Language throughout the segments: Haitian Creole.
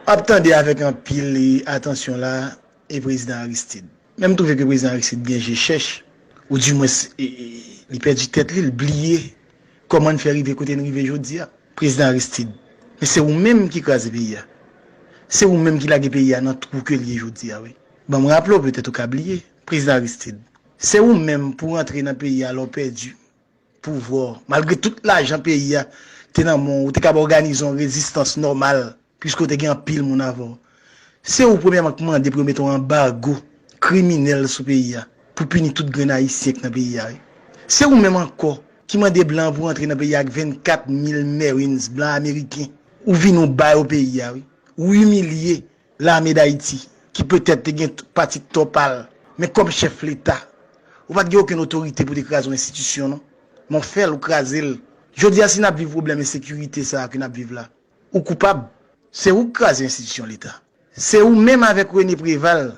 Ap tande avèk anpil atansyon la e prezidan Aristid. Men m twouve ke prezidan Aristid gen je chèch ou di mwens li pèdi tèt li, l bliye kòman n fè rive kote n rive jodi a. Prezidan Aristid, men se ou menm ki kraze peyi a. Se ou menm ki lage peyi a nan twou ke l ye jodi a wi. Ban m raple w, petèt ou ka bliye, prezidan Aristid, se ou menm pou rantre nan peyi a lè w pèdi pouvwa w. Malgre tout lajan peyi a te nan men w, ou te kab òganize yon rezistans nòmal piske w te gen anpil moun avè w. Se ou premyèman k mande pou yo mete yon anbago kriminèl sou peyi a pou pini tout grenn Ayisyen k nan peyi a wi. Se ou menm ankò ki mande blan pou rantre nan peyi a ak 24 mil Marines blan ameriken. Ou vini w ba yo peyi a wi. Ou imilye Lame Dayiti, ki petèt te gen pati tò pa l, men kòm chèf Leta, ou pa t gen okenn otorite pou w te kraze yon enstitisyon non. Men w fè l, ou kraze l. Jodi a si n ap viv pwoblèm ensekirite sa a ke n ap viv la, ou koupab. Se ou ki kraze enstitisyon Leta. Se ou menm avèk Rene Preval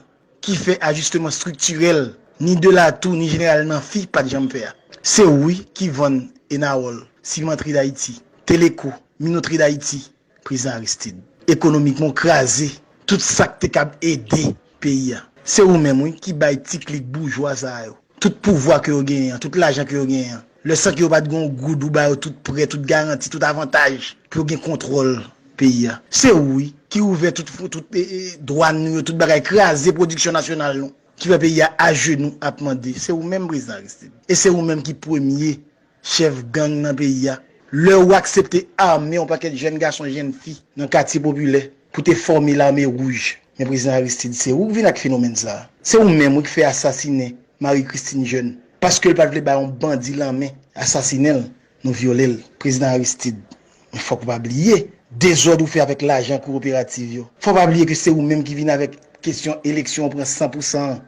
ki fè ajisteman estriktirèl ni Delatou ni Jeneral Nanfi pa t janm fè a. Se ou wi ki vann Enawòl, Simantri Dayiti, Teleko, Minotri Dayiti, Prezidan Aristid. Ekonomikman w kraze tout sa k te kab ede peyi a. Se ou menm wi ki bay ti klik boujwa sa yo tout pouvwa ke yo genyen an, tout lajan ke yo genyen an. Lè san ke yo pa t gen yon goud ou ba yo tout prè, tout garanti, tout avantaj pou yo gen kontwòl peyi a. Se ou wi ki ouvè tout fron, tout dwàn nou yo, tout bagay, kraze pwodiksyon nasyonal nou ki fè peyi a ajenou ap mande. Se ou menm Prezidan Aristid. E se ou menm ki premye chèf gang nan peyi a. Lè ou aksepte ame yon pakèt jèn gason jenn fi nan katye popilè pou te fòme lame wouj. Men prezidan Aristide se ou k vin ak fenomèn sa. Se ou menm wi k fè asasinen Marie Christine Jeune paske l pat vle bay yon bandi lanmen asasinen l nou vyole l. Prezidan Aristide Men fòk ou pa bliye dezòd ou fè avèk lajan kowoperativ yo. Fòk ou pa bliye ke se ou menm ki vin avèk kesyon eleksyon ou pran san pou san an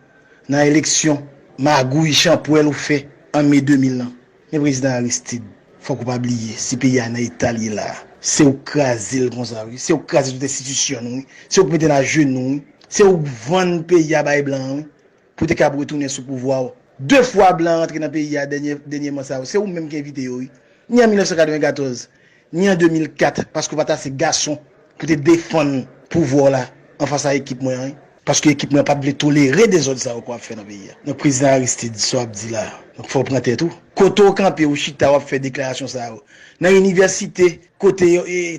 nan eleksyon, magouy, chanpwèl ou fè an me 2000 lan. Men Prezidan Aristid, fòk ou pa bliye si peyi a nan eta l ye la a, se ou k kraze l konsa wi, se ou k kraze tout enstitisyon nou wi, se ou k mete n ajenou wi, se ou k vann peyi a bay blan an wi. Pou te kab retounen sou pouvwa w. De fwa blan rantre nan peyi a dènyèman sa yo, se ou menm ki envite yo wi. Ni an 1994, ni an 2004 paske w pa t ase gason pou te defann pouvwa w la anfas a ekip mwen an wi. Paske ekip mwen an pa t vle tolere dezòd sa yo ke w ap fè nan peyi a. Donk Prezidan Aristide, sa w ap di la a, donk fò w pran tèt ou. Kote w kanpe, w chita w ap fè deklarasyon sa yo? Nan inivèsite kote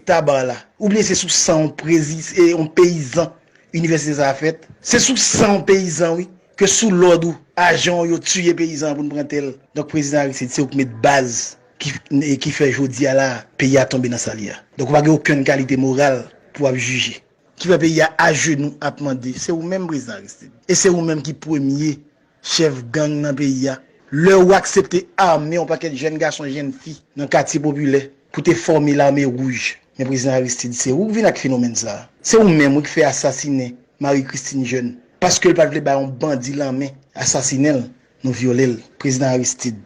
Tabarre la? Oubyen se sou san yon peyizan Inivèsite sa a fèt. Se sou san w peyizan wi, ke sou lòd ou, ajan w yo tiye peyizan an pou n pran tè l. Donk prezidan Aristide se ou k met baz ki fè jodi a la a peyi a tonbe nan sa l ye a. Donk ou pa gen okenn kalite moral pou w ap jije. Ki fè peyi a ajenou ap mande se ou menm prezidan Aristide. E se ou menm ki premye chèf gang nan peyi a, lè ou aksepte ame yon pakèt jèn gason jenn fi nan katye popilè pou te fòme lame wouj. Men prezidan Aristide se ou k vin ak fenomèn sa a. Se ou menm wi k fè asasinen Marie Christine Jeune paske l pat vle bay yon bandi lanmen asasinen l nou vyole l. Prezidan Aristide.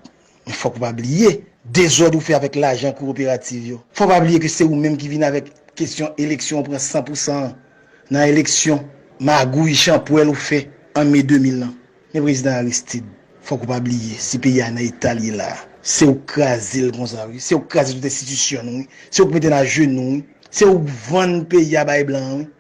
Men fòk ou pa bliye dezòd ou fè avèk lajan kowoperativ yo. Fòk ou pa bliye ke se ou menm ki vin avèk kesyon eleksyon ou pran san pou san an nan eleksyon, magouy, chanpwèl ou fè an me 2000 lan. Men Prezidan Aristid, fòk ou pa bliye si peyi a nan eta l ye la a, se ou k kraze l konsa wi, se ou k kraze tout enstitisyon nou wi, se ou k mete n ajenou wi, se ou k vann peyi a bay blan an wi.